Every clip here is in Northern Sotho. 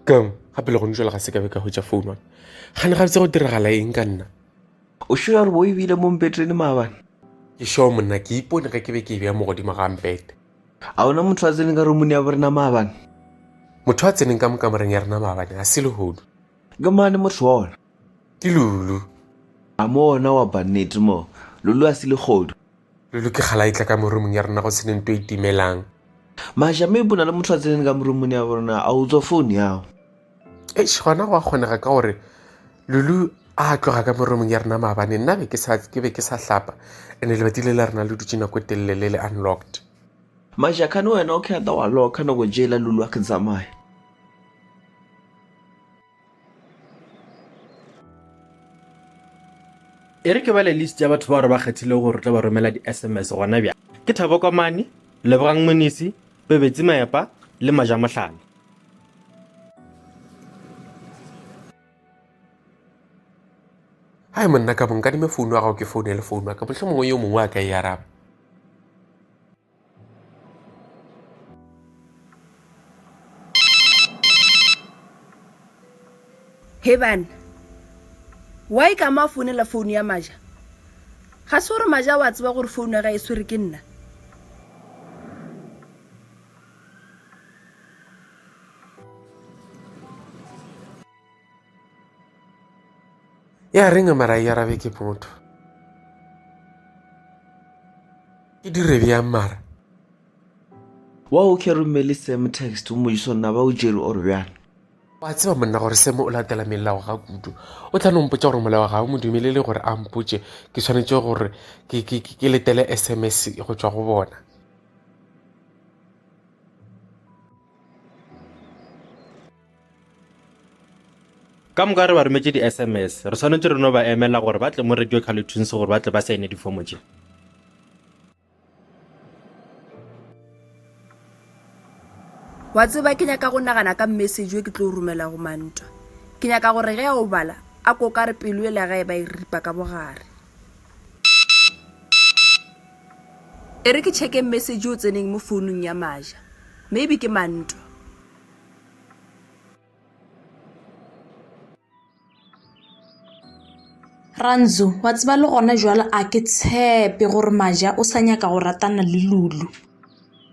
keng gape le gone jale ga se ka be ka hwetša founu wane gane ga botse go diragala eng ka nna o sure gore bo ebile mo mpetrene maabane ke sure monna ke ipone ge ke be ke e beya mo godimo ga mpete a ona motho a tseneng ka romone ya borena maabane motho a tseneng ka mokamoreng ya rena maabane ga se lehodu ke mane motho wa ona Ke Lulu. A mo ona wa bannete mo? Lulu a se legodu. Lulu ke kgala itla ka morumong ya rona go sene nto e timelang. Maša me bona le motho a tsenene ka morumong ya rona a utswa phone yago. Eish gona go a kgonega ka gore Lulu a tloga ka morumong ya rona maabane nna be ke sa ke be ke sa hlapa ene lebati le la rena le dutše nako e telele le le unlocked. Maša khane wena o khetha wa loka nako jela Lulu a ke tsamaya. e re ke bale list ya batho ba re ba kgethile gore re tla ba romela di-sms gona bja ke thabo komane lebogang monisi pebetsi maepa le maja mohlana hai monna ka bonkadime founu ya gago ke founele founu ya ka motlho mongwe yo mongwe a ka e araba he bana wa e ka mo a founela founu ya maja ga se gore maja wa tseba gore founu ya ga e swere ke nna ya reng a mara e arabe ke motho e dire bjang mara wa o ke romele sam text o mojiso nna ba o jere ore bjang wa tseba monna gore seme o latela melao ga kudu o tla nompotsa gore molao ga o mo dumelele gore a mpotse ke tshwanetse gore ke letele sms go tswa go bona Ka moka re ba rometše di-sms. Re swanetše re no ba emela gore ba tle mo Radio Carletonse gore ba tle ba saene difomo tše. Wa tseba ke nyaka go nagana ka message yo ke tlo romela go mantwa ke nyaka gore ge a o bala a ko ka re pelo e la gae ba e ripa ka bogare e re ke checke message o tseneng mo founung ya maja maybe ke mantwa Ranzo, wa tseba le gona jwale a ke tshepe gore maja o sa nyaka go ratana le lulu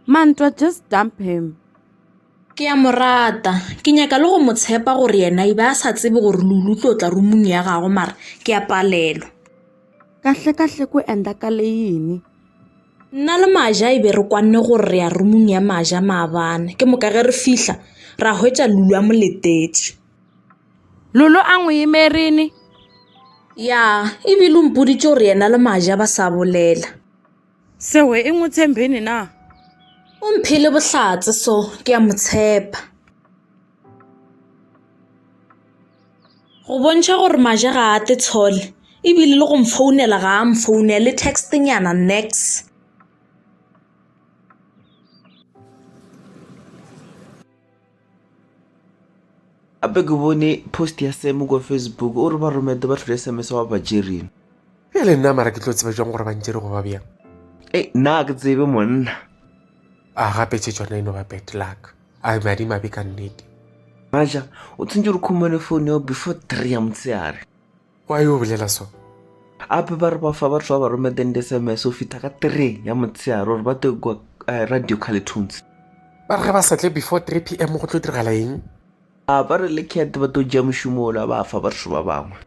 mantwa just dump him ke ya mo rata ke nyaka le go mo tshepa gore yena e be a sa tsebe gore lulu tlo tla rumung ya gago mara ke ya palelwa kahle kahle ko enda ka leyini Nna le Maja e be re kwanne gore re ya rumong ya Maja maabane. Ke moka ge re fihla, ra hwetša Lulu a mo letetše. Lulu a ngwe emerene. Ya, e bile o mpoditše gore yena le Maja ba sa bolela. Sehwe e ngwe tshembene na? O mphele bohlatse so, ke a mo tshepa. Go bontšha gore Maja ga a te tshole e bile le go mfounela ga a mfounele le text nyana nix. gape ke bone post ya semo kwa facebook o re ba romete ba tlhole sms wa bajerin e le nna mara ke tlo tseba jang gore ba ntšere go ba bjang e nna ke tsebe monna a gape tše tsona e no ba bad luck a be madimabe ka nnete maja o tshwantse re khumele phone yao before three ya motshegare wa yo bolela so ape ba re ba fa batho ba ba rometeng di-sms o fitha ka three ya motshegare gore ba tlo kwa eh, radio carletones ba re ge ba sa tle before 3 p m go tlo diragala eng a ba re le cat ba tlo ja mošomo ola ba fa batho ba bangwe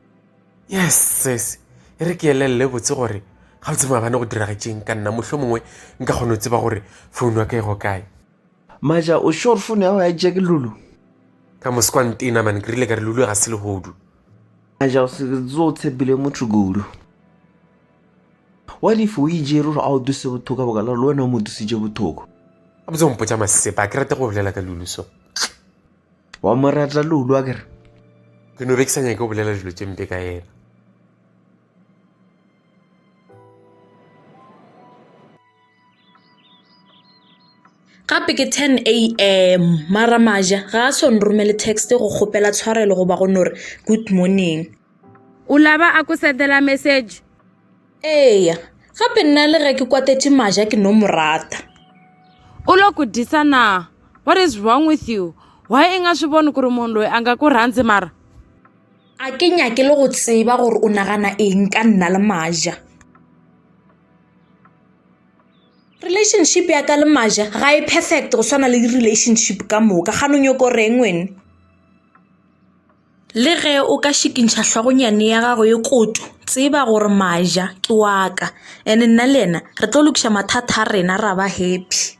yes ses e re ke elelele botse gore ga botse maabane go diragetšeng ka nna mohlho mongwe nka kgone go tseba gore founu ya ka e go kae Maja, o sure phone ya go ya Jack Lulu? Ka moskwa ntena man, ke rile ka re Lulu ga se lehodu. Maja, o se tso o tshepile motho kudu. What if o ijere gore a o duse bothoko ka bokala le wena o mo dusitše bothoko? A botse o mpotša masepa, a ke rate go bolela ka Lulu so. Wa mo rata Lulu a kere? Ke no be ke sa nyake go bolela dilo tše mpe ka yena. gape ke 10 am mara maja ga a so nromele text go kgopela tshwarelo goba go no re good morning o laba a ko sendela message eya gape nna le ge ke kwatetše maja ke no mo rata u lo ku disa na what is wrong with you why i nga swi voni ku ri munhu loyi a nga ku rhandzi mara A ke nyake le go tseba gore o nagana eng ka nna le Maja. Relationship ya ka le Maja ga e perfect go swana le relationship ka moka ga no nyoko reng wene. Le ge o ka šikintšha hlogonyane ya gago e koto tseba gore Maja ke wa ka and nna le yena re tlo lokiša mathata a rena ra ba happy.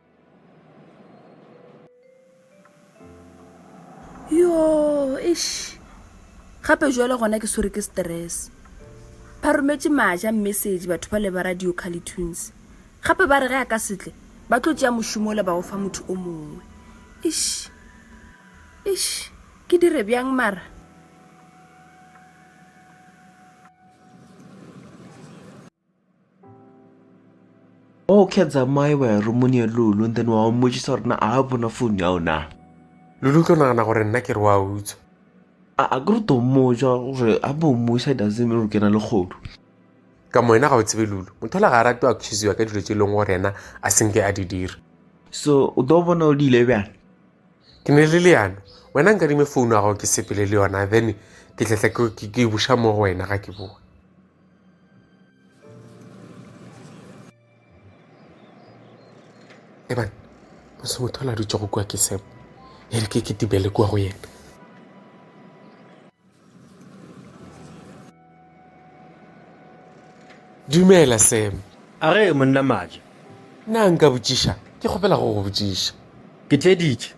yo ish gape jale gona ke swere ke stress ba rometše maja message batho ba le ba radio calitunes gape ba re ge a ka setle ba tlo tšea mošomo le ba go fa motho o mongwe ish ish ke dire bjang mara okay tsamaye wa ya romong ya lulu and then wa o mmotšiša gore na a bona phone ya ona lulu tlo nagana gore nna ke re wa utswa a ke re to mmotsa gore a bo mmusa doesn't mean gore ke na le kgodu ka mo wena ga o tsebe lulu motho la ga a rate o accuseiwa ka dilo tse e leng gore ena a senke a di dira so o tlo bona o di ile bjang ke ne le leano wena nkadime founu ya gago ke sepele le yona then ke tletla ke buša mo go wena ga ke boa ebane go se motho la dutse go kwa ke seo e re ke ke tibele kwa go yena dumela sam a re monna maja na nka botšiša ke kgopela go go botšiša ke tleditše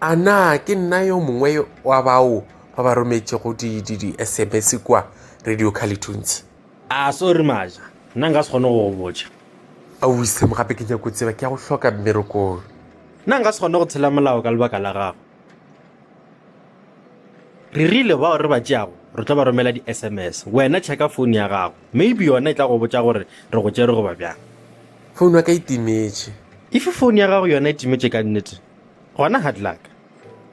A na ke nna yo mongwe wa bao ba ba rometšego di-SMS kua Radio Calitunes? A sorry Maja, nna nka se kgone go go botša. Aowi Sam, gape ke nyako tseba, ke ya go hloka mmerekong. Nna nka se kgone go tshela molao ka lebaka la gago. re rile bao re ba tšeago re tlo ba romela di-sms wena checka phone ya gago maybe yona e tla go botša gore re go tšere goba bjang phone ya ka e timetše if phone ya gago yona e timetše ka nnete gona hard luck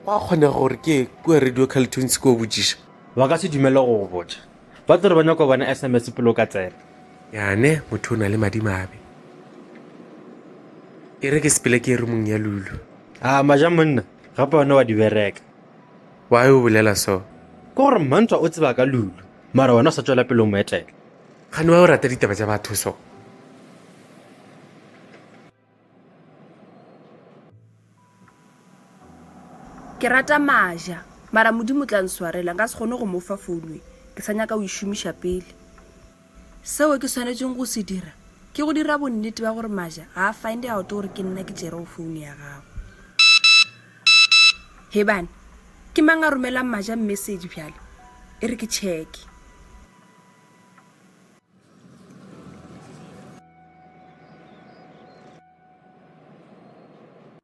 go a kgonega gore ke kua radio caltunes ko botšiša ba ka se dumele go go botša ba tlo re ba nyako bona sms pele o ka tsena yane motho o na le madimabe e re ke sepele ke e re mong ya lulu a maja monna gape one wa di bereka why o bolela so ke gore mmantshwa o tseba ka lulu mara wena o sa tswela pele o mo etela gane wa o rata ditaba tša batho so ke rata maja mara modimo tla nswarela nka se kgone go mo fa founwe ke sa nyaka o e šomiša pele Seo ke swanetšego go se dira ke go dira bonnete ba gore Maja ga a find out gore ke nna ke tšerego founo ya gagwe. Hebane, ke mang a romelang Maja message bjale? E re ke tšheke.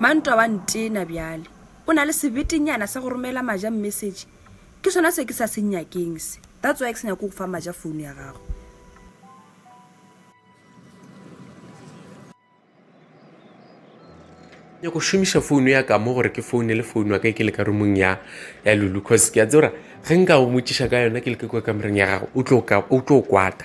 Mantwa wa ntena bjale. O na le sebetinyana sa go romela Maja message. Ke sona se ke sa se nyakeng se. That's why ke se nyako go fa Maja phone ya gago. Nyako šomiša phone ya ka mo gore ke phone le phone wa ka ke le ka rumong ya ya Lulu cause ke a tsora ge nka go motšiša ka yona ke le ke kwa kamoreng ya gago o tlo kwata.